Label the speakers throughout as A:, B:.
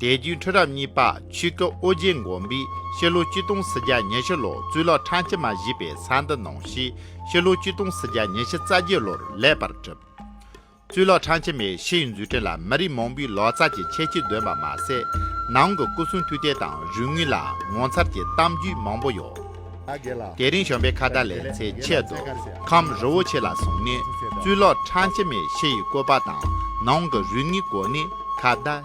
A: དད་གུས་ཁྲི་རབས་གཉིས་པ་ཆོས་སྐུ་ཨོ་རྒྱན་མགོན་པོས་ཤེར་ལྷོ་སྐྱིད་སྟོང་སི་རྒྱ་ཉེ་ཤི་ལོ་གཙུག་ལག་ཁྲང་སྤྱི་མ་བཞི་པའི་ས་འདི་གནང་ཞེས་ཤེར་ལྷོ་སྐྱིད་སྟོང་སི་རྒྱ་ཉེ་ཤི་རྩ་བརྒྱད་ལོར་ལེགས་པར་བྲིས། གཙུག་ལག་ཁྲང་སྤྱི་མའི་ཤི་ཡི་མཛོད་ཕྲེང་ལ་མི་རིགས་མང་པོའི་ལོ་ཙཱ་ཀྱི་ཁྱད་ཆོས་འདོན་པ་མ་ཟད་ནང་གི་སྐུ་གསུང་ཐུགས་རྟེན་དང་རུས་དངུལ་ལ་ངོ་མཚར་གྱི་གཏམ་རྒྱུད་མང་པོ་ཡོད། དེ་རིང་བྱོན་པའི་ཁ་བརྡ་ལས་ཚེ་ཆད་དུ་ཁམས་རི་བོ་ཆེ་ལ་སོང་ནས་གཙུག་ལག་ཁྲང་སྤྱི་མའི་ཤི་ཡི་བཀོད་པ་དང་ནང་
B: གི་རུས་དངུལ་སྐོར་ནས་ཁ་བརྡ་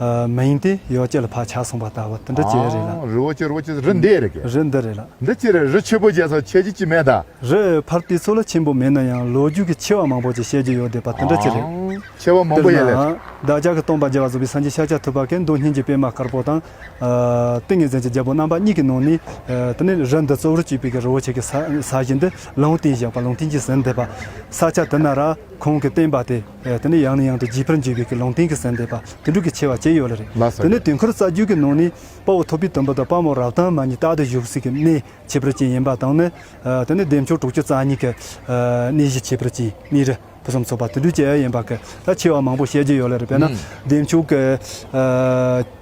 C: མ་ཡིན་ཏེ་ཡོ་བྱད་ལ་བག་ཆགས་གསུངས་པ་ལྟ་བུ་འདི་འདི་ཅི་རེད་
B: ལ། རི་བོ་ཆེ་རི་བོ་ཆེ་རི་འདི་རེད་ཀྱི། རི་འདི་རེད་ལ། འདི་
C: ཅི་རེད་རི་ཆེན་པོ་བརྒྱད་སོགས་ཁྱད་
B: ཀྱི་ཅི་མེད་ད། རི་ཕར་དུས་ཚོད་ལ་ཆེན་པོ་མེད་
C: ན་ཡང་ལོ་རྒྱུས་ཀྱི་ཆེ་བ་མང་པོ་ཅིག་བཤད་རྒྱུ་ཡོད་དེ་པ་འདི་འདྲ་ཅི་རེད།
B: ཆེ་བ་མང་པོ་ཡོད་ལས། བདག་ཅག་གི་སྟོང་པ་རྒྱལ་བ་བཟོ་པའི་སངས་རྒྱས་ཤཱཀྱ་ཐུབ་པ་ཀའི་མདོ་སྙིང་གི་པད་མ་དཀར་པོ་དང། ཏིང་ངེ་འཛིན་གྱི་རྒྱལ་པོ་རྣམ་པ་གཉིས་ཀྱི་ནང་ནས། དེ་ནས་རི་འདི་གཙོ་བོར་བྱས་པའི་རི་བོ་ཆེ་གི་ས་གཞི་འདི་ལུང་
C: བསྟན་བཞག་པ་ལུང་བསྟན་གྱི་ཟིན་དེ་པ། ས་ཆ་དེ་ན་ར་ཁོང་གིས་བསྟན་པ་སྟེ། དེ་ནི་ཡང་ནས་ཡང་དུ་བརྗིད་པར་འགྱུར་བའི་ཀི་ལུང་བསྟན་གྱི་ཟན་འདེབས་པ་དེ་འབྲུག་གི་ཆེ་བ་ཅན་ཡོད་ལ་རེད། དེ་ནི་དུས་འཁོར་རྩ་རྒྱུད་ཀྱི་ནང་ནས་དཔའ་བོ་ཐོ་པི་དུམ་བུ་དང་དཔའ་མོ་རབ་དྭངས་མ་གཉིས་རྟག་ཏུ་བཞུགས་སྲིད་ཀྱི་གནས་བྱེད་པར་བཅིངས་ཡིན་པ་དང་ནི། དེ་ནི་འདེབས་འཆོར་དྲུག་ཅུ་རྩ་གཉིས་ཀྱི་གནས་གཞི་བྱེད་པར་བཅིངས་གནས་རི་ཕུན་སུམ་ཚོགས་པ་དེ་འབྲུག་ཅན་ཡིན་པ་ཀི་ལ་ཆེ་བ་མང་པོ་བཤད་རྒྱུ་ཡོད་ལ་རེད་དཔེར་ན་འདེབས་འཆོར་གྱི།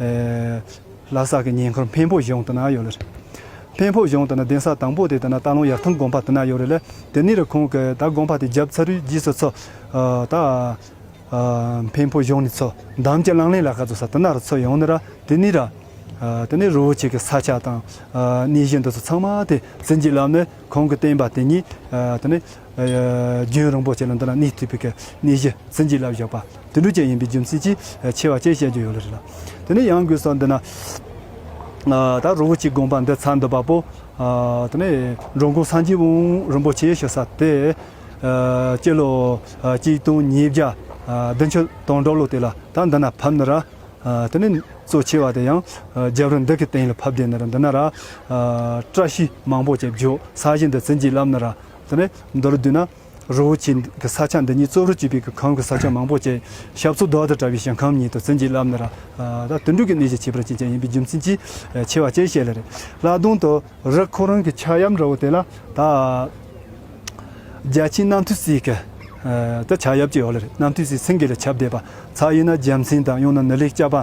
C: ལ་སག་གི་ཉེ་འཁོར་འཕན་ཕོ་གཞོང་དུ་ན་ཡོད་ལ། འཕན་ཕོ་གཞོང་དུ་ན་གདན་ས་དང་པོ་དེ་དང་ན་རྟ་ལུང་ཡར་ཐང་དགོན་པ་དུ་ན་ཡོད་རེད་ལ་དེ་ནི་རུ་ཁོང་གི་ད་དགོན་པ་དེ་རྒྱབ་ཚ་རུའི་རྗེས་སུ་འཚོ། ད་འཕན་ཕོ་གཞོང་ནི་འཚོ་འདམ་གྱི་གླང་ལེན་ལ་ཁ་འཛུགས་ས་དུ་ན་རུ་འཚོ་ཡོང་ནི་ར་དེ་ནི་ར། དེ་ནི་རུའུ་ཆེ་གི་ས་ཆ་དང་གནས་གཞི་འདི་ཚོ་ཚང་མ་དེ་ཟིན་གྱི་ལམ་ནི་ཁོང་གི་བསྟན་པ་དེ་ཉིད་དེ་ནི། རྒྱུན་རིང་པོ་བྱས་ན་འདི་ལ་ནུས་མཐུ་བོད་ཀྱི་གནས་གཞི་ཟིན་བྲིས་ལ་བཞག་པ་དུད་འགྲོ་ཅན་ཡིན་པའི་རྒྱུ་མཚན་གྱིས་ཆེ་བ་བཅས་བཤད་རྒྱུ་ཡོད་ལ་རེད་ལ། དེ་ནས་ཡང་དགོས་སར་འདི་ན་ད་རུ་བོ་ཆེའི་དགོངས་པ་འདི་ཚར་འདུག་པ་པོ། དེ་ནས་འགྲོ་མགོན་སངས་རྒྱས་དབོན་རིན་པོ་ཆེ་ཞེས་ས་དེ་སྤྱི་ལོ་གཅིག་སྟོང་ཉིས་བརྒྱ་བདུན་ཅུ་དང་གྲོ་ལོ་དེ་ལ་ད་འདི་ན་ཕབ་ནི་ར། དེ་ནས་གཙོ་ཆེ་བ་དེ་ཡང་རྒྱབ་རི་འདི་གི་སྟེང་ལ་ཕབ་བསྡད་ནི་ར་འདི་ན་ར། བཀྲ་ཤིས་མང་པོ་བཅས་བརྗོད་ས་གཞི་འདི་ཟིན་བྲིས་ལབ་ནི་ར་དེ་ནས་མདོ་ལ་བསྡུས་ན། རི་བོ་ཆེའི་གི་ས་ཆ་འདི་ཉིད་གཙོ་བོར་བྱས་པའི་གི་གམ་གི་ས་ཆ་མང་པོ་བཅས་ཞབས་ཚོ་བདག་ཏུ་བཀྲ་བའི་ཞིང་ཁམས་ཉིད་དུ་ཟིན་གྱི་བསླབ་ན་ར་ད་དུད་འགྲོ་གི་གནས་ཀྱི་ཁྱད་པར་ཅན་ཅན་ཡིན་པའི་རྒྱུ་མཚན་གྱིས་ཆེ་བ་བཅས་བཤད་ལ་རེ་བླ་རྡུང་དུ་རི་ཁོ་རང་གི་ཕྱག་གཡབ་འདྲ་བོ་དེ་ལ་ད་རྒྱལ་ཆེན་རྣམ་ཐོས་སྲས་གི་ད་ཕྱག་གཡབ་ཅིག་ཡོད་ལ་རེ་རྣམ་ཐོས་སྲས་སེང་གེ་ལ་ཁྱབ་བསྡད་པ་ཚ་ཡིན་ན་རྒྱལ་མཚན་དང་ཡང་ན་ནི་ལེགས་སྐྱ་པ་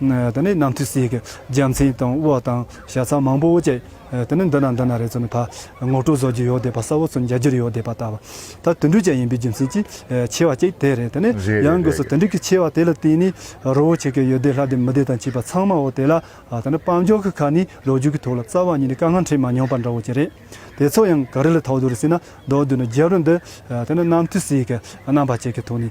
C: དེ་ནས་ནམ་དུས་སའི་རྒྱལ་མཚན་དང་དབོ་དང་ཞག་ཚགས་མང་པོ་བཅས་དེ་ནས་འདི་ན་འདི་ན་རེ་ཙམ་ད་ངོ་སྤྲོད་བཟོ་རྒྱུ་ཡོད་བསྡད་པ་ས་བོ་ཚོ་མཇལ་རྒྱུར་ཡོད་བསྡད་པ་ད་དུད་འགྲོས་ཅན་ཡིན་པའི་རྒྱུ་མཚན་གྱིས་ཆེ་བ་གཅིག་དེ་རེད་དེ་ནས་ཡང་སྒོས་སུ་དུད་འགྲོས་ཀྱི་ཆེ་བ་དེ་ལ་བརྟེན་ནས་རོ་བོ་ཆེ་གེ་ཡོད་བསྡད་ལྷ་སྡེ་མི་སྡེ་དང་བཅས་པ་ཚང་མ་འོ་དེ་ལ་དེ་ནས་དཔལ་འབྱོར་གྱི་ཁ་ནས་ལོ་རྒྱུས་ཀྱི་ཐོག་ལ་རྩ་བ་ཉིད་ནས་དཀའ་ངལ་འཕྲད་མ་མྱོང་པ་འདྲ་བོ་ཅི་རེད་དེ་ཚོ་ཡང་ག་རེ་ལ་ཐོགས་འདུག་རེ་ཟེར་ན་མདོར་བསྡུས་ན་རྒྱལ་པོ་འདི་དེ་ནས་ནམ་དུས་སའི་རྣམ་པ་བཅས་ཀྱི་ཐོག་ནས་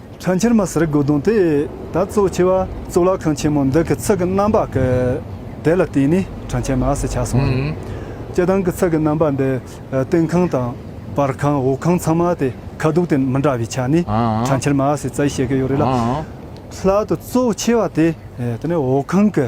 B: ཁྲ་
C: འཁྱིལ་མ་ཟེར་དགོས་དོན་དེ་ད་གཙོ་ཆེ་བ་གཙུག་ལག་ཁང་ཆེན་མོ་འདི་གི་ཚིག་གི་རྣམ་པ་གི་དེ་ལ་བརྟེན་ནས་ཁྲ་འཁྱིལ་མ་ཟེར་ཆགས་སོང་བ་རེད། སྤྱིར་བཏང་གི་ཚིག་གི་རྣམ་པ་འདི་སྟེང་ཁང་དང་བར་ཁང་འོག་ཁང་ཚང་མ་དེ་ཁ་སྡུག་དེ་མི་འདྲ་བའི་ཆ་ནས་ཁྲ་འཁྱིལ་མ་ཟེར་ཙའི་བཤད་ཀི་ཡོད་རེད་ལ། ལྷག་ཏུ་གཙོ་ཆེ་བ་དེ་དེ་ནས་འོག་ཁང་གི།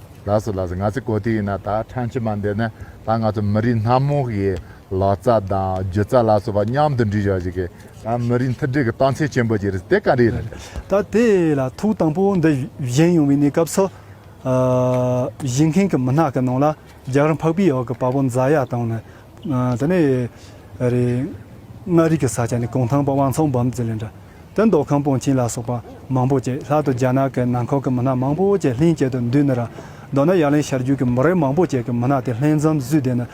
C: ལགས་སོ་ལགས་
B: སོ་ང་ཚོས་གོ་ཐོས་ཡིན་ན་ད་ཕྲན་ཕྱི་མ་འདི་ནི་ད་ང་ཚོ་མི་རིགས་སྣ་མང་ཞིག་ལག་རྩལ་དང་སྒྱུ་རྩལ་ལ་སོགས་པ་མཉམ་དུ་འདྲིས་ཤོག་ཞིག་གི་ད་མི་རིགས་མཐུན་སྒྲིལ་གྱི་རྟགས་མཚན་ཆེན་པོ་ཞིག་རེད་དེ་ག་རེད་རེད། ད་དེ་ལ་
C: ཐུགས་དང་པོ་འདི་བཞེངས་ཡོང་བའི་གནས་སྐབས་སུ། བཞེངས་མཁན་གྱི་མི་སྣ་གི་ནང་ལ་རྒྱ་གར་འཕགས་པའི་འོག་གི་དཔའ་བོ་མཛའ་ཡག་དང་ནི། དེ་ནས་རེད། མངའ་རིས་ཀྱི་ས་ཆ་ནས་གུང་ཐང་པ་དབང་ཚང་འབུམ་རྫི་ལས་འདྲ། དོན་མདོ་ཁམས་སྤུངས་ཆིང་ལ་སོགས་པ་མང་པོ་བཅས་ལྷག་ཏུ་རྒྱ་ནག་གི་ནང་ཁོག་གི་མི་སྣ་མང་པོ་བཅས་ལྷན་སྐྱེས་དུ་འདུས་ནི་ར་མདོ་ན་ཡར་ལེན་ཤར་རྒྱུད་ཀྱི་མི་རེ་མང་པོ་བཅས་ཀྱི་མི་སྣ་དེ་ལྷན་འཛམ་བཟུས་བསྡད་ནི་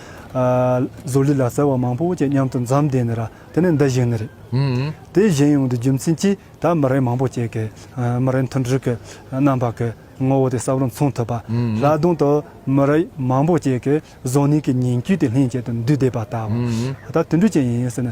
C: ཟོ་ལི་ལ་ཟེར་བ་མང་པོ་བཅས་མཉམ་དུ་འཛམ་བསྡད་ནི་ར་དེ་ནི་འདི་བཞིན་ནི་རེད། དེ་བཞིན་ཡོང་དུས་རྒྱུ་མཚན་གྱིས་ད་མི་རེ་མང་པོ་བཅས་ཀྱི་མི་རེ་མཐུན་འགྲིག་གི་རྣམ་པ་གི་ངོ་བོ་དེ་གསབ་རུང་མཚུངས་ཐུབ་པ་ལ་དུང་དུ་མི་རེ་མང་པོ་བཅས་ཀྱི་བཟོ་གནས་ཀྱི་ཉིང་བཅུད་དེ་ལྷན་སྐྱེས་དུ་འདུས་བསྡད་པ་ལྟ་བུ་ད་དུང་འབྲུ་ཅན་ཡིན་ཟེར་ནི་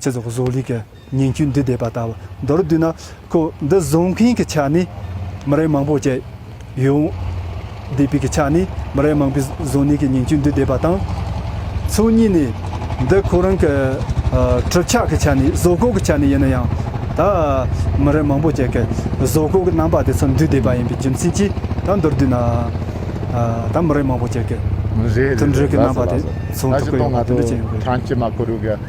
C: ཚེ་སྲོག་བཟོ་ལས་ཀྱི་ཉིང་བཅུད་འདི་འདེབས་པ་ལྟ་བུ་མདོར་བསྡུས་ན་ཁོ་འདི་བཟོ་མཁན་གྱི་ཆ་ནས་མི་རེ་མང་པོ་བཅས་ཡོད། འདེབས་པའི་གི་ཆ་ནས་མི་རེ་མང་པོས་བཟོ་ནས་ཀྱི་ཉིང་བཅུད་འདི་འདེབས་པ་དང། ཚོགས་གཉིས་ནས་འདི་ཁོ་རང་གི་གྲུབ་ཆ་གི་ཆ་ནས་བཟོ་བཀོད་ཀྱི་ཆ་ནས་ཡིན་ན་ཡང་ད་མི་རེ་མང་པོ་བཅས་ཀྱི་བཟོ་བཀོད་ཀྱི་རྣམ་པ་དེ་ཚོ་འདུས་འདེབས་པ་ཡིན་པའི་རྒྱུ་མཚན་གྱིས་ད་མདོར་བསྡུས་ན་ད་མི་རེ་མང་པོ་བཅས་ཀྱི་མཐུན་སྒྲིལ་གྱི་རྣམ་པ་དེ་མཚོན་ཐུབ་ཀྱི་ཡོད་པ་དེ་འདྲ་བྱས་
B: ཡོད་པ་རེད།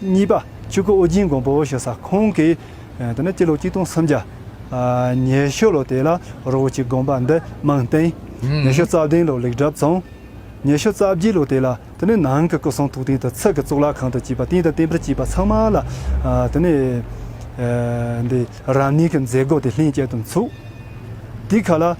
C: གཉིས་པ། ཆུ་ཁོལ་ཨོ་རྒྱན་གོང་བུ་ཞེས་བྱ་ཁོང་གིས། དེ་ནས་སྤྱི་ལོ་གཅིག་སྟོང་སུམ་བརྒྱ། ཉེ་ཤོ་ལོ་དེ་ལ་རོ་བོ་ཆེའི་དགོན་པ་འདི་རྨང་བཏིང། ཉེ་ཤོ་རྩ་བདུན་ལོར་ལེགས་གྲབས་བཙོང། ཉེ་ཤོ་རྩ་བརྒྱད་ལོ་དེ་ལ་དེ་ནས་ནང་གི་སྐུ་གསུང་ཐུགས་རྟེན་དུ་ཚིག་གི་གཙུག་ལག་ཁང་དུ་བཅས་པ་རྟེན་དང་བརྟེན་པར་བཅས་པ་ཚང་མ་ལ། དེ་ནས། འདི་རང་ཉིད་ཀྱི་མཛད་སྒོ་དེ་ལྷན་སྐྱེས་དུ་ཚུགས། དེའི་ཁ་ལ།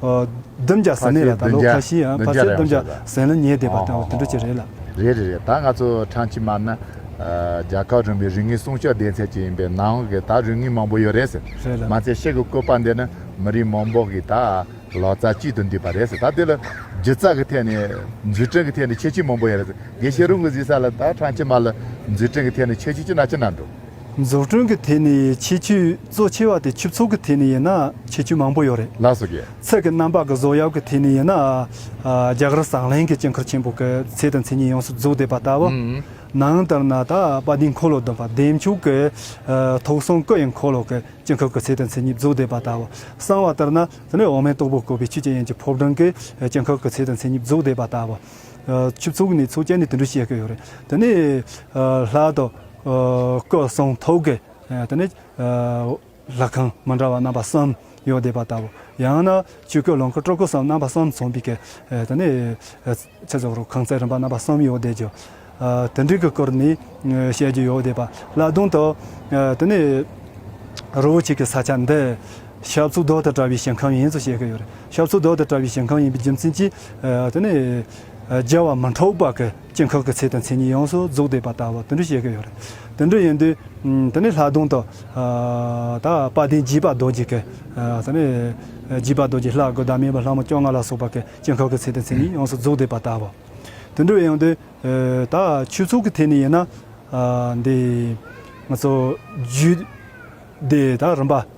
C: བསྡུམ་བྱ་ཟེར་ནས་ལ་ད་ལོ་ཁ་ཞི་ཡང་ཕར་ཚད་བསྡུམ་བྱ་ཟེར་ན་ཉེས་བསྡད་པ་དང་དེ་འདྲ་ཅིག་རེད་ལ། རེད་རེད་རེད་ད་ང་ཚོ་
B: ཁྲང་ཆིན་མ་ནི་རྒྱལ་ཁབ་རིམ་པའི་རིག་གནས་སྲུང་སྐྱོབ་སྡེ་ཚན་ཅིག་ཡིན་པས་ནང་གི་ད་རིག་གནས་མང་པོ་ཡོད་རེད་ཟེར། མ་ཚད་ཤེལ་གྱི་བཀོད་པ་འདི་ནི་མི་རིགས་མང་པོ་གིས་ད་ལོ་རྩ་གཅིག་ཏུ་འདུས་པ་རེད་ཟེར་ད་དེ་ལ་སྒྱུ་རྩལ་གྱི་ཐད་ནས་མཛུས་སྤྲིངས་ཀྱི་ཐད་ནས་ཁྱད་ཆོས་མང་པོ་ཡོད་རེད་ཟེར་དགེ་བཤེས་རུང་གིས་གཟིགས་ས་ལ་ད་ཁྲང་ཆིན་མ་ལ་མཛུས་སྤྲིངས་ཀྱི་ཐད་ནས་ཁྱད་ཆོས་ཅི་ན་ཅི་ན་འདུག། འཛུགས་སྐྲུན་གྱི་ཐད་
C: ནས་ཁྱད་ཆོས་གཙོ་ཆེ་བ་དེ་ཆུ་ཚོགས་ཀྱི་ཐད་ནས་ཡིན་ན་ཁྱད་ཆོས་མང་པོ་ཡོད་རེད། ལགས་སོ་གྱེས། ཚད་ཀྱི་
B: རྣམ་པ་གྱི་བཟོ་
C: གཡབ་ཀྱི་ཐད་ནས་ཡིན་ན། རྒྱ་གར་ཟངས་ལྷན་གྱི་དཀྱིལ་འཁོར་ཆེན་པོ་གི་ཚད་དང་མཚན་ཉིད་ཡོངས་སུ་རྫོགས་བསྡུས་པ་ལྟ་བུ། ནང་ལྟར་ན་ད་པ་ཏིའི་འཁོར་ལོ་བདུན་པ་བདེ་མཆོག་གི་ཐོག་གསུང་སྐུ་ཡི་འཁོར་ལོ་གྱི་དཀྱིལ་འཁོར་གྱི་ཚད་དང་མཚན་ཉིད་རྫོགས་བསྡུས་པ་ལྟ་བུ། གསང་བ་ལྟར་ན་དེ་ནི་འོག་མིན་སྟུག་པོ་བཀོད་པའི་ཆུ་སྐྱེས་ཡན་གྱི་ཕོབ་སྒྲོན་གྱི་དཀྱིལ་འཁོར་གྱི་ཚད་དང་མཚན་ཉིད་རྫོགས་བསྡུས་པ་ལྟ་བུ། ཆུ་ཚོགས་ནི་ཚོགས་བཅས་ནས་དུད་འགྲོ་བཤད་ཀྱི་ཡོད་རེད། དེ་ནས་ལྷག་དུ། སྐུ་གསུང་ཐུགས་ཀྱི་དེ་ནས་ལྷ་ཁང་མི་འདྲ་བ་རྣམ་པ་གསུམ་ཡོད་བསྡད་པ་ལྟ་བུ། ཡང་ན་ཆོས་སྐུ་ལོངས་སྐུ་སྤྲུལ་སྐུ་གསུམ་རྣམ་པ་གསུམ་མཚུངས་པའི་ཀྱི་དེ་ནས་ཚེ་སྲོག་རུ་ཁང་རྩེག་རིམ་པ་རྣམ་པ་གསུམ་ཡོད་བསྡད་ཀྱི། དེ་འདྲའི་ཀྱི་སྐོར་ནས་བཤད་རྒྱུ་ཡོད་བསྡད་པ་ལ་ལྟུང་དུ། དེ་ནས་རི་བོ་ཆེ་གི་ས་ཆ་འདི་ཞབས་ཚུལ་རྡོ་དང་བྲལ་བའི་ཞིང་ཁམས་ཡིན་ཚུལ་བཤད་ཀྱི་ཡོད་རེད། ཞབས་ཚུལ་རྡོ་དང་བྲལ་བའི་ཞིང་ཁམས་ཡིན་པའི་རྒྱུ་མཚན་གྱིས་དེ་ནས་རྒྱལ་བ་མི་འཕྲོག་པ་གི། སྐྱེ་འགག་གི་ཚེ་དང་མཚན་ཉིད་ཡོངས་སུ་རྫོགས་བསྡུས་པ་ལྟ་བུ་དོན་འགྲུབ་བཤད་ཀྱི་ཡོད། དོན་འགྲུབ་ཡིན་དུས་དེ་ནི་ལྷག་དོན་དུ། ད་དཔའ་གདན་བརྒྱུད་པ་རྡོ་རྗེ་ཀེ། བརྒྱུད་པ་རྡོ་རྗེ་ལྷ་དགུ་བདག་མེད་པ་ལྷ་མོ་བཅོ་ལྔ་ལ་སོགས་པ་ཀེ་སྐྱེ་འགག་གི་ཚེ་དང་མཚན་ཉིད་ཡོངས་སུ་རྫོགས་བསྡུས་པ་ལྟ་བུ། དོན་འགྲུབ་ཡིན་དུས། ད་ཆོས་ཚུལ་གྱི་ཐད་ནས་ཡིན་ན། འདི། ང་ཚོ། རྒྱུད་སྡེ་དང་རིམ་པ།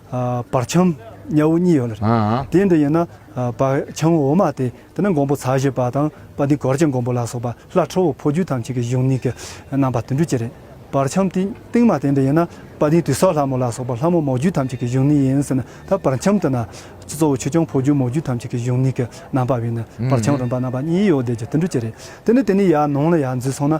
C: བར་ཁྱམས་གཉའ་བོ་གཉིས་ཡོད་ལ། དེའི་འདི་ཡིན་ན་བར་ཁྱམས་འོག་མ་སྟེ་དེ་ནི་འགོང་པོ་ཚ་བཞི་པ་དང་པ་ཏི་གོར་གྱི་འགོང་པོ་ལ་སོགས་པ་ལྷ་ཁྲོ་བོ་ཕོ་རྒྱུད་ཐམས་ཅད་ཀྱི་གཞུང་གཉིས་ཀྱི་རྣམ་པ་དུད་འགྲོའི་སྤྱི་རེད། བར་ཁྱམས་སྟེང་སྟེང་མ་སྟེ་འདི་ཡིན་ན་པ་ཏི་དུད་སོགས་ལྷ་མོ་ལ་སོགས་པ་ལྷ་མོ་མོ་རྒྱུད་ཐམས་ཅད་ཀྱི་གཞུང་གཉིས་ཡིན་ཟེར་ན་ད་བར་ཁྱམས་དུ་ན་གཙོ་བོ་ཆོས་སྐྱོང་ཕོ་རྒྱུད་མོ་རྒྱུད་ཐམས་ཅད་ཀྱི་གཞུང་གཉིས་ཀྱི་རྣམ་པ་བས་ནི་བར་ཁྱམས་རིམ་པ་རྣམ་པ་གཉིས་ཡོད་བསྡད་ཀྱི་དུད་འགྲོའི་སྤྱི་རེད་དེ་ནི་དེ་ནས་ཡར་ནང་ལ་ཡར་འཛུལ་སོང་ན་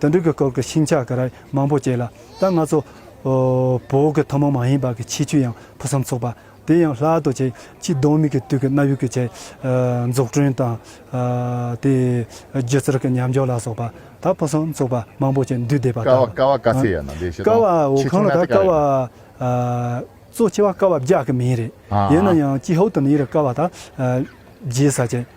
C: དུ་འགྲིག་གི་སྐབས་ཀྱི་ཤིང་ཆ་ག་རེ་མང་པོ་བཅད་ལ་ད་ང་ཚོ་བོད་ཀྱི་ཐུན་མོང་མ་ཡིན་པ་གྱི་ཆེ་ཆུ་ཡང་ཕུན་སུམ་ཚོགས་པ་དེ་ཡང་ལྷག་ཏུ་ཆེ་ཆུའི་གདོན་མིག་གི་དུས་ཀྱི་གནའ་ཡུལ་གྱི་ཆས་འཛུགས་སྐྲུན་དང། དེ་སྒྱུ་རྩལ་གྱི་ཉམས་འཇོག་ལ་སོགས་པ་ད་ཕུན་སུམ་ཚོགས་པ་མང་པོ་ཅིག་འདུས་སྡེ་པ་དང། ཀ་བ་ཀ་ཚེ་ཡ་ན་ལས་
B: བྱེད་དང་ཆེ་ཆུང་སྣ་ཚོགས་
C: ཀ་རེ་ཡོད། གཙོ་ཆེ་བ་ཀ་བ་བརྒྱག་གི་མིང་རེད། ཡིན་ན་ཡང་ཅི་ཧོད་དུ་ནི་ཡི་རི་ཀ་བ་དང་རྗེ་ས་ཅན།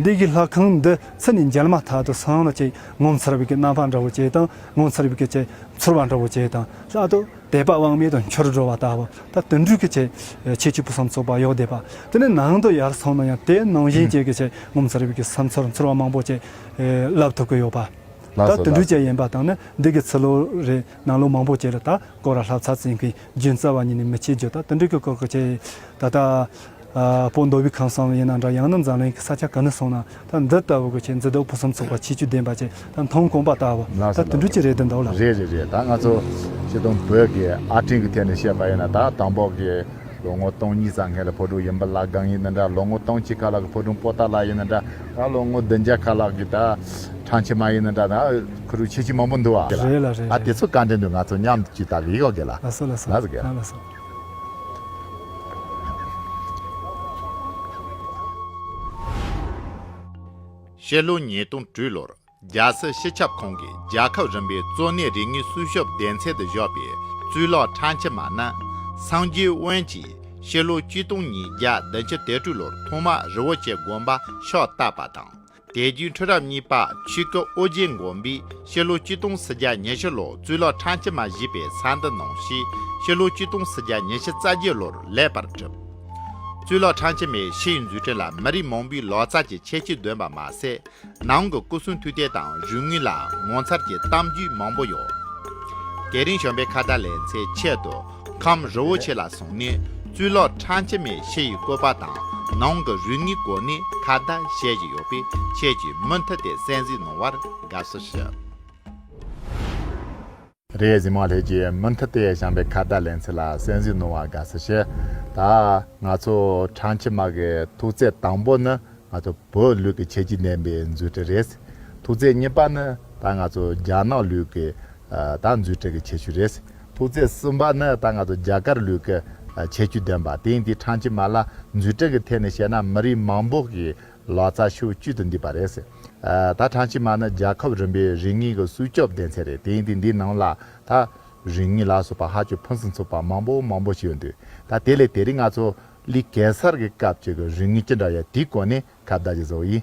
C: འདི་གའི་ལྷ་ཁང་འདི་ཚུར་ནས་མཇལ་མ་ཐག་ཏུ་སང་ལོ་ཅིག་ངོ་མཚར་བའི་གནམ་འཕང་འདྲ་བོ་བྱས་དང་ངོ་མཚར་བའི་ཆེ་མཚོར་བ་འདྲ་བོ་བྱས་དང་ལྷག་ཏུ་དད་པ་དབང་མེད་དུ་འཆོར་འགྲོ་བ་ལྟ་བུ་ད་དུད་འགྲོས་ཀྱི་ཆེད་ཆེ་གཅིག་པུ་བསམ་ཚོགས་པ་གཡོག་བསྡད་པ་དེ་ནི་ནང་དུ་ཡར་སོང་ན་ཡང་དེ་ནང་བཞིན་བྱས་ཀྱི་ཆེད་ངོ་མཚར་བའི་བསམ་ཚོར་མཚོར་བ་མང་པོ་བྱས་ལབ་ཐུབ་ཀྱི་ཡོད་པ། ད་དུད་འགྲོས་ཅན་ཡིན་པ་དང་ནི་འདི་གའི་ཚུར་ལོ་རེ་ནང་ལོ་མང་པོ་བྱས་ལ་ད་སྐོར་ར་ལྷ་ཚ་ཚིང་གིས་རྒྱུན་རྩ་བ་ཉིད་ནས་མི་ཆེ་རྒྱུ་ད་དུད་འགྲོས་ཀྱི་སྐོར་གྱི་ཆེད་ད་ལྟ་པོ་མདོ་དབུས་ཁམས་གསུམ་ཡིན་ན་འདྲ་ཡང་ན་འཛམ་གླིང་གི་ས་ཆ་གང་ནས་སོང་ན་ད་འདི་ལྟ་བུ་གི་ཆེས་མཛེས་སྡུག་ཕུན་སུམ་ཚོགས་པ་ཆེས་ཆོས་ལྡན་པ་ཆེས་ད་མཐོང་དཀོན་པ་ལྟ་བུ་ལགས་ད་སོ་དུད་འགྲོ་ལགས། གཅིག་རེད་འདི་འདུག་ལགས། རེད་རེད་རེད་ད་ང་ཚོ་
B: ཆེ་མཐོང་བོད་ཀྱི་ཨ་སྤྲིང་གི་ཐད་ནས་བཤད་པ་ཡིན་ན་ད་དང་པོ་གི་ལོ་ངོ་སྟོང་གཉིས་ཙམ་སྔས་ལ་ཕོ་ཕྲུག་ཡིན་པ་ལ་སྒང་ཡིན་ན་འདྲ་ལོ་ངོ་སྟོང་གཅིག་ཁ་ལག་གི་ཕོ་ཕྲུག་པོ་ཏཱ་ལགས་ཡིན་ན་འདྲ་ད་ལོ་ངོ་བདུན་བརྒྱ་ཁ་ལག་གི་ད་ཁྲང་ཆེ་མ་ཡིན་ན་འདྲ་ད་ཁུ་རུ་ཆེ་ཆེ་མང་པོ་འདུག་བ། རེད་ལགས་རེད་རེད། ད་དེ་ཚོ་བཀའ་དྲིན་དུ་ང་ཚོ་མཉམ་གཅིག་ད་གི་ཡོག་གི་ལ་ལགས་ལ་སོ་ལ་སོ་ལ་སོ་ལ་
C: སོ།
A: ཕྱི་ལོ་ཉིས་སྟོང་དྲུག་ལོར་རྒྱལ་སྲིད་སྤྱི་ཁྱབ་ཁང་གིས་རྒྱལ་ཁབ་རིམ་པའི་གཙོ་གནད་རིག་དངོས་སྲུང་སྐྱོབ་སྡེ་ཚན་དུ་བཞག་པའི་གཙུག་ལག་ཁྲ་འཁྱིལ་མ་ནི། སངས་རྒྱས་དབོན་གྱིས་ཕྱི་ལོ་བཅུ་སྟོང་ཉིས་བརྒྱ་བདུན་ཅུ་དོན་དྲུག་ལོར་ཐོག་མར་རི་བོ་ཆེ་དགོན་པ་ཕྱག་བཏབ་པ་དང། དད་རྒྱུན་ཁྲི་རབས་གཉིས་པ་ཆོས་སྐུ་ཨོ་རྒྱན་མགོན་པོས་ཕྱི་ལོ་བཅུ་སྟོང་སུ་བརྒྱ་ཉི་ཤུ་ལོར་གཙུག་ལག་ཁྲང་སྤྱི་མ་བཞི་པའི་ས་འདི་གནང་ཞེས་ཕྱི་ལོ་བཅུ་སྟོང་སུ་བརྒྱ་ཉི་ཤུ་རྩ་བརྒྱད་ལོར་ལེགས་པར་གྲུབ། གཙུག་ལག་ཁྲང་སྤྱི་མའི་ཕྱི་ཡི་འཛུགས་སྐྲུན་ལ་མི་རིགས་མང་པོའི་ལག་རྩལ་གྱི་ཁྱད་ཆོས་འདོན་པ་མ་ཟད། ནང་གི་སྐུ་གསུང་ཐུགས་རྟེན་དང་རུས་དངུལ་ལའང་ངོ་མཚར་གྱི་གཏམ་རྒྱུད་མང་པོ་ཡོད། དེ་རིང་གཞོན་པའི་ཁ་བརྡ་ལེན་ཚེ་ཆེད་དུ། ཁམས་རི་བོ་ཆེ་ལ་སོང་ནས་གཙུག་ལག་ཁྲ་འཆི་མེད་ཕྱི་ཡི་བཀོད་པ་དང་ནང་གི་རུས་ངན་སྐོར་ནས་ཁ་བརྡ་བཤད་བཞིན་ཡོད་པས་ཁྱེད་ཀྱིས་མུ་མཐུད་དེ་གསན་གཟིགས་གནང་བར་དགའ་བསུ་ཞུ།
B: རེས་གཟིགས་མ་ལྷས་ཀྱིས་མུ་མཐུད་དེ་བྱམས་པའི་ཁ་བརྡ་ལེན་ཚུལ་ལ་གསན་གཟིགས་གནང་བར་དགའ་བསུ་ཞུ། ད་ང་ཚོ་ཁྲ་འཆི་མ་གི་ཐུགས་བརྩེ་དང་པོ་ནི་ང་ཚོ་བོད་ལུགས་ཀྱི་ཁྱད་ཆོས་ལྡན་པའི་མཛོད་དྲིལ་རེད། ཐུགས་བརྩེ་གཉིས་པ་ནི་ད་ང་ཚོ་རྒྱ་ནག་ལུགས་ཀྱི་ད་མཛོད་དྲིལ་གྱི་ཁྱད་ཆོས་རེད། ཐུགས་བརྩེ་གསུམ་པ་ནི་ད་ང་ཚོ་རྒྱ་གར་ལུས་ཀྱི་ཁྱད་ཆོས་ལྡན་པ་དེང་དུས་ཁྲང་ཆི་མ་ལ་འཛུལ་ཁྲིད་ཀྱི་ཐད་ནས་བཤད་ན་མི་རིགས་མང་པོ་ཞིག་ལག་རྩལ་ཤུགས་བསྐྱུད་དུ་འདུས་པ་རེད། ད་ཁྲང་ཆི་མ་ནི་རྒྱལ་ཁབ་རིམ་པའི་རིག་གནས་ཀྱི་སྲུས་སྐྱོབ་སྡེ་ཚན་རེད་དེང་དུས་འདིའི་ནང་ལ་ད་རིག་གནས་ལ་སོགས་པ་ཧ་ཅང་ཕུན་སུམ་ཚོགས་པ་མང་པོ་མང་པོ་ཞིག་ཡོད་འདུག་ད་དེ་ལས་དེ་རིང་ང་ཚོ་ལི་གེ་སར་གྱི་སྐབས་ཀྱི་རིག་གནས་ཅི་འདྲ་ཡོད་དེའི་སྐོར་ནས་ཁ་བརྡ་ཞིག་བཟོ་ཡིན།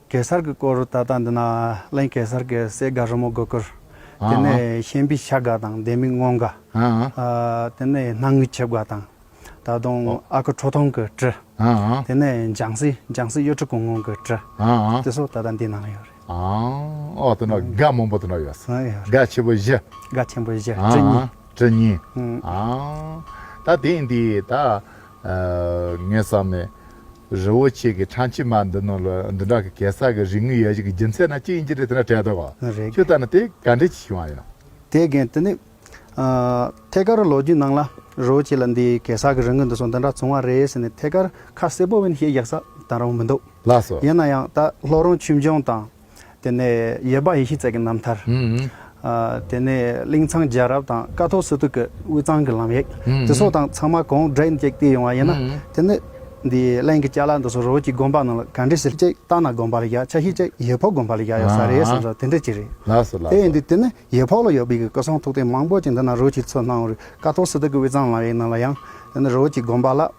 C: གེ་སར་གྱི་སྐོར་ད་ལྟ་འདི་ན་གླེང་གེ་སར་གྱི་སྲས་དགའ་རོལ་མོ་དགོས་ཀྱི། དེ་ནས་གཤེན་པའི་ཤ་དགའ་དང་ལྡན་མིག་སྔོ་དགའ། དེ་ནས་སྣང་ངུའི་ཁྱབ་དགའ་དང། ད་དུང་ཨ་ཁུ་ཁྲོ་ཐུང་གི་བྲི། དེ་ནས་འཇང་སྲས་འཇང་སྲས་གཡོ་ཁྲི་གུང་སྔོན་གྱི་བྲི། དེ་སོགས་ད་ལྟ་འདི་ན་ཡོད་རེད།
B: ཨོ་དེ་ན་དགའ་མང་པོ་དེ་ན་ཡོད། དགའ་ཆེན་པོ་བཞི། དགའ་ཆེན་པོ་བཞི་བྲི་གཉིས། བྲི་གཉིས། ད་དེ་འདི་ད། ངས་བསམ་ནས། རི་བོ་ཆེ་གི་ཁྲ་མཆིལ་མ་འདི་ནང་ལ་འདི་འདྲ་གི་གེ་སར་གི་རིག་དངོས་ཡལ་གཞིག་གི་རྒྱུ་མཚན་ན་ཅི་ཡིན་ཅི་རེད་དེ་འདྲ་དྲན་འདུག་གོ། མ་རེད། ཁྱོད་ལྟར་ན་དེ་ག་འདྲའི་ཆེ་ཆུང་བ་ཡིན། དེས་རྒན་དེ་ནི།
C: ཐད་ཀར་ལོ་རྒྱུས་ནང་ལ་རི་བོ་ཆེ་ལ་འདི་གེ་སར་གི་རི་ངོས་འདི་སོགས་འདི་འདྲ་བྱུང་བ་རེད་ཟེར་ནས་ཐད་ཀར་ཁ་གསལ་པོ་བོན་ཞེས་བཞག་ས་དང་རུང་མི་འདུག་ལགས་སོ། ཡིན་ན་
B: ཡང་ད་ལྷོ་
C: རོང་ཆུ་འབྱུང་དང། དེ་ནས་ཡེར་བཱ་ཡེ་ཤི་ཙད་ཀྱི་རྣམ་ཐར། དེ་ནས་གླིང་ཚང་རྒྱལ་རབས་དང་ཀ་ཐོག་སི་ཏུ་ཀི་དབུས་གཙང་གི་ལམ་ཡིག་དེ་ཚོ་དང་ཚང་མ་གོང་བསྒྲིགས་ནས་བཏུས་ཡོང་བ་ཡིན་ན། དེ་ནི་འདིའི་
D: གླིང་གི་སྐྱ་ལ་འདི་ཚོ་རོལ་གྱི་དགོན་པ་རྣམས་ལ་ག་འདྲི་ཟེར་གཅིག་སྟག་སྣ་དགོན་པ་ལ་བཞག་ཆ་ཤས་གཅིག་ཡེ་ཕོག་དགོན་པ་ལ་བཞག་ཡོད་ས་རེད་ཟེར་ས་དེ་འདྲ་གཅིག་རེད། དེ་ཡིན་དུས་དེ་
B: ནི་ཡེ་ཕོག་
D: ལ་ཡོད་པའི་སྐུ་གསུང་ཐུགས་རྟེན་མང་པོ་གཅིག་འདི་ན་རོལ་གྱི་ཚོ་སྣང་བར་ཀ་ཐོག་སི་ཏུ་ཀི་དབུས་གཙང་ལམ་ཡིག་རྣམས་ལ་ཡང་དེ་ནི་རོལ་གྱི་དགོན་པ་ལ།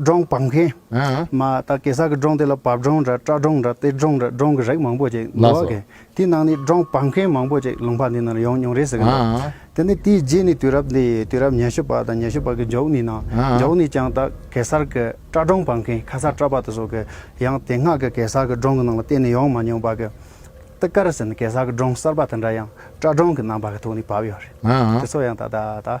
D: སྒྲོང་བབས་མཁན། མ་ད་
B: གེ་སར་གྱི་སྒྲོང་
D: དེ་ལ་བབས་སྒྲོང་འདྲ་སྐྲ་སྒྲོང་འདྲ་སྟེ་སྒྲོང་འདྲ་སྒྲོང་གི་རིགས་མང་པོ་ཅིག་འདུག་བ་གས་དེའི་ནང་ནས་སྒྲོང་བབས་མཁན་མང་པོ་ཅིག་ལུང་པ་འདི་ན་ལ་ཡོང་མྱོང་རེད་ཟེར་གྱི་འདུག་དེ་ནས་དེའི་རྗེས་ནས་དུས་རབས་འདི་དུས་རབས་ཉི་ཤུ་པ་དང་ཉི་ཤུ་པ་གི་མཇུག་ནས་ནང་མཇུག་ནས་ཀྱང་ད་གེ་སར་གྱི་སྐྲ་སྒྲོང་བབས་མཁན་ཁ་སར་སྐྲ་བབས་ཏེ་སོགས་ཀྱིས་ཡང་དེ་སྔ་གི་གེ་སར་གྱི་སྒྲོང་གི་ནང་ལ་གཏན་ནས་ཡོང་མ་མྱོང་བ་གས་ཏི་ཀར་ཟེར་ནས་གེ་སར་གྱི་སྒྲོང་གསར་པ་དེ་འདྲ་ཡང་སྐྲ་སྒྲོང་གི་རྣམ་པ་གི་ཐོག་ནས་བབས་ཡོད་རེད་དེ་ཚོ་ཡང་ད་ད་ད